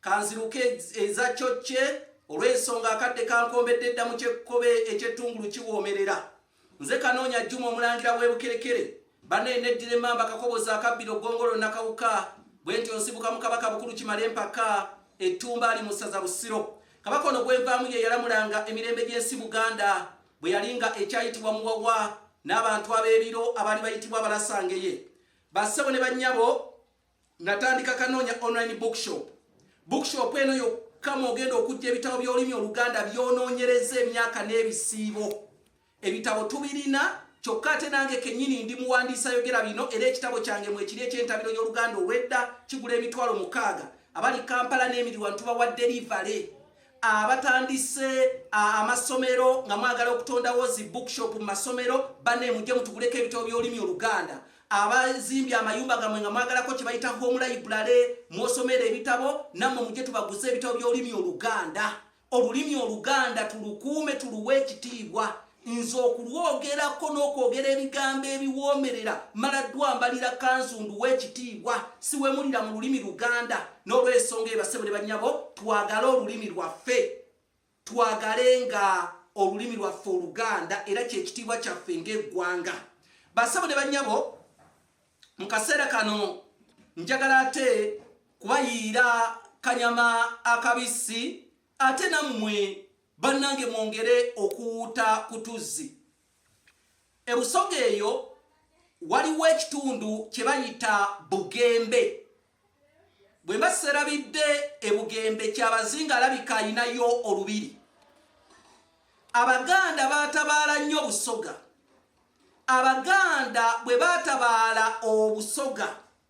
Kanziruke eza kyokye olw'ensonga akadde kankombedde dda mu kyekkobe eky'ettungulu kiwoomerera. Nze kanoonya Juma omulangira w'ebukerekere banaye neddira emmamba kakobozi akabbiro gongolo nakawuka bwe ntyo nsibuka mu kabaka bukulu kimale empaka ettumba ali mu ssaza busiro kabaka ono gwenvaamu ye yalamulanga emirembe gy'ensi buganda bwe yali nga ekyayitibwa muwawa n'abantu ab'ebiro abaali bayitibwa abalasangeye bassebo ne bannyabo Natandika Kanoonya Online Bookshop. Bookshop eno yokka mw'ogenda okujja ebitabo by'olulimi Oluganda by'onoonyereza emyaka n'ebisiibo. Ebitabo tubirina kyokka ate nange kennyini ndi muwandiisi ayogera bino era ekitabo kyange mwekiri eky'entabiro y'Oluganda olw'edda kigula emitwalo mukaaga. Abali Kampala n'emiriwano tubawadde livale. abatandise amasomero nga mwagala okutondawo zi bookshop mu masomero banne mujje mutuguleko ebitabo by'olulimi oluganda abazimbye amayumba gamwe nga mwagalako kye bayita home library mwosomera ebitabo nammwe mujje tubaguze ebitabo by'olulimi oluganda olulimi oluganda tulukuume tuluwe ekitiibwa nze okulwogerako n'okwogera ebigambo ebiwoomerera mala ddwambalira kanzu nduwa ekitiibwa siwemulira mu lulimi luganda n'olwensonga ebasebo ne bannyabo twagale olulimi lwaffe twagale nga olulimi lwaffe oluganda era kyekitiibwa kyaffe ng'eggwanga basebo ne bannyabo mu kaseera kano njagala ate kubayiira kanyama akabisi ate nammwe bannange mwongere okuwuuta ku tuzzi ebusoga eyo waliwo ekitundu kye bayita bugembe bwe mba serabidde ebugembe kyabazinga alabika alinayo olubiri abaganda batabaala nnyo busoga abaganda bwe batabaala obusoga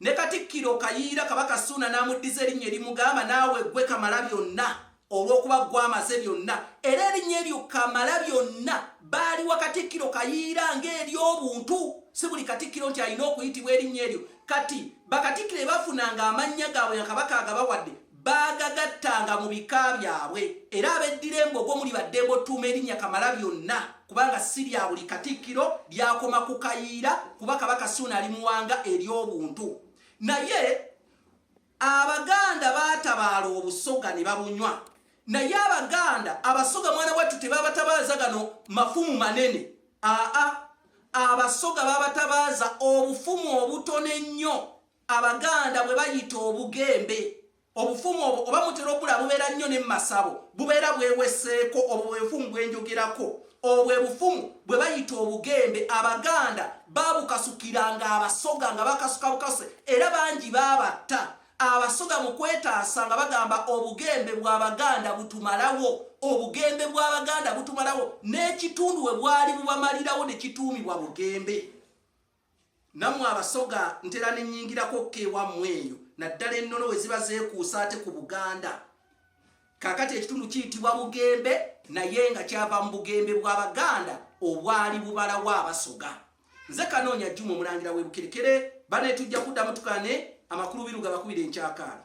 Ne Katikkiro Kayiira Kabaka Ssuuna n'amuddiza erinnya erimugamba naawe ggwe Kamalabyonna olw'okuba ggwe amaze byonna era erinnya eryo Kamalabyonna baaliwa Katikkiro Kayiira ng'ery'obuntu si buli Katikkiro nti alina okuyitibwa erinnya eryo kati bakatikkiro ebafunanga amannya gaabwe nga Kabaka agabawadde baagagattanga mu bika byabwe era abeddira embogo muli baddembe otuuma erinnya kamala byonna kubanga si lya buli katikkiro lyakoma ku kayiira kuba kabaka suuna ali muwanga ery'obuntu naye abaganda baatabaala obusoga ne babunywa naye abaganda abasoga mwana wattu tebabatabaaza gano mafumu manene aa abasoga babatabaaza obufumu obutono ennyo Abaganda bwe bayita obugembe, obufumu obwo oba mutera okula bubeera nnyo ne mu masabo, bubeera bweweseeko, obwo bwe bufumu bwe njogerako. Obwo bwe bufumu bwe bayita obugembe, Abaganda baabukasukiranga Abasoga nga bakasuka bukasuse era bangi baabatta. Abasoga mu kwetaasa nga bagamba obugembe bw'Abaganda butumalawo, obugembe bw'Abaganda butumalawo, n'ekitundu we bwali bubamalirawo ne kituumibwa Bugembe. Nammwe Abasoga ntera ne nnyingirako ko ewammwe eyo naddala ennono we ziba zeekuusa ate ku Buganda. Kaakati ekitundu kiyitibwa Bugembe naye nga kyava mu Bugembe bwa Baganda obwali bubalawo Abasoga. Nze Kanoonya Jjuma Omulangira w'e Bukerekere, bane tujja kuddamu tukane amakulu biru gabakubire enkyakaala.